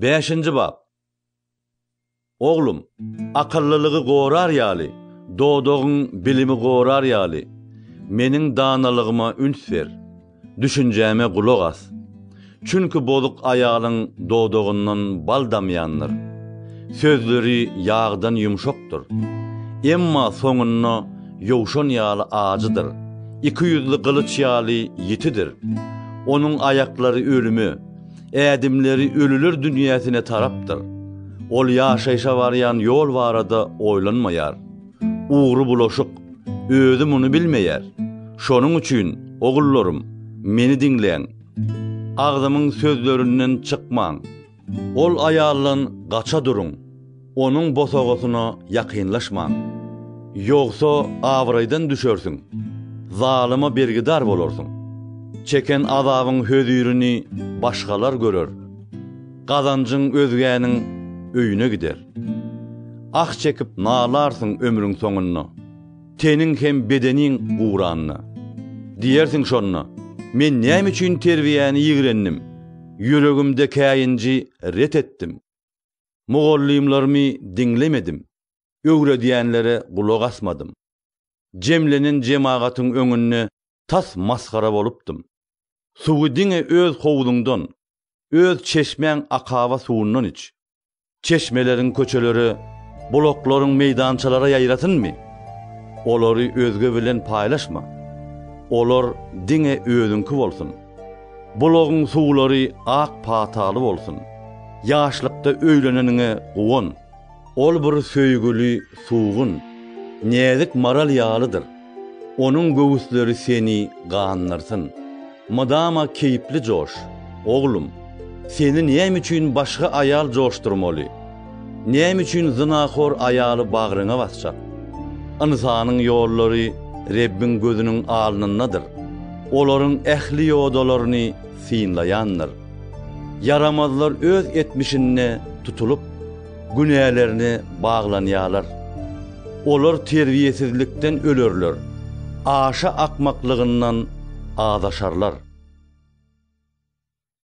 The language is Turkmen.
Bäşinji bap. Oglum, akyllylygy gorar ýaly, dodagyň bilimi gorar ýaly, Meniň danalygyma üns ber, düşünjäme gulak as. Çünki bozuk aýalyň dodagyndan bal damýandyr, sözleri ýagdan ýumşakdyr, emma soňunda ýowşan ýaly ajydyr, ikiýüzli gylyç ýaly ýitidir. Onuň aýaklary ölüme, Ädimleri ölüler dünýäsine tarapdyr. Ol ýaşaýşa barýan ýol barada oýlanmaýar. Ugry bulaşyk. Özi muny bilmeýär. Şonuň üçin, ogullarym, meni diňläň. Agzymyň sözlerinden çykmaň. Ol aýaldan gaça duruň. Onuň bosagasyna ýakynlaşmaň. Ýogsa abraýdan düşersiň, zalyma bergidar bolarsyň. Çeken azabyň hözirini başgalar görer, gazanjyň özgäniň öýüne gider. Ah çekip nalarsyň ömrüň soňunda, teniň hem bedeniň guranda. Diýersiň şonda, Men näme üçin terbiýäni ýigrendim, ýüregimde käýinji ret etdim? Mugallymlarymy diňlemedim, öwredýänlere gulak asmadym. Jemlenen jemagatyň öňünde tas masgara bolupdym. Suwy diňe öz howzuňdan, öz çeşmäň akaba suwundan iç. Çeşmeleriň köçelere, bulaklaryň meýdançalara ýaýrasynmy? Olary özge bilen paýlaşma. Olar diňe özüňki bolsun. Bulagyň suwlary ak pataly bolsun. Ýaşlykda öýleneniňe guwan. Ol bir söýgüli, suwgun, näzik maral ýalydyr. Onuň göwüsleri seni gandyrsyn. Mydama keýpli joş, oglum. Seni näme üçin başga aýal joşdurmaly? Näme üçin zynahor aýaly bagryňa basjak? Ynsanyň ýollary Rebbiň gözüniň alnyndadyr, olaryň ähli ýodalaryny synlaýandyr. Ýaramazlar öz etmişinde tutulyp, günälerine baglanýarlar. Olar terbiýesizlikden ölerler, aşa akmaklygyndan azaşarlar.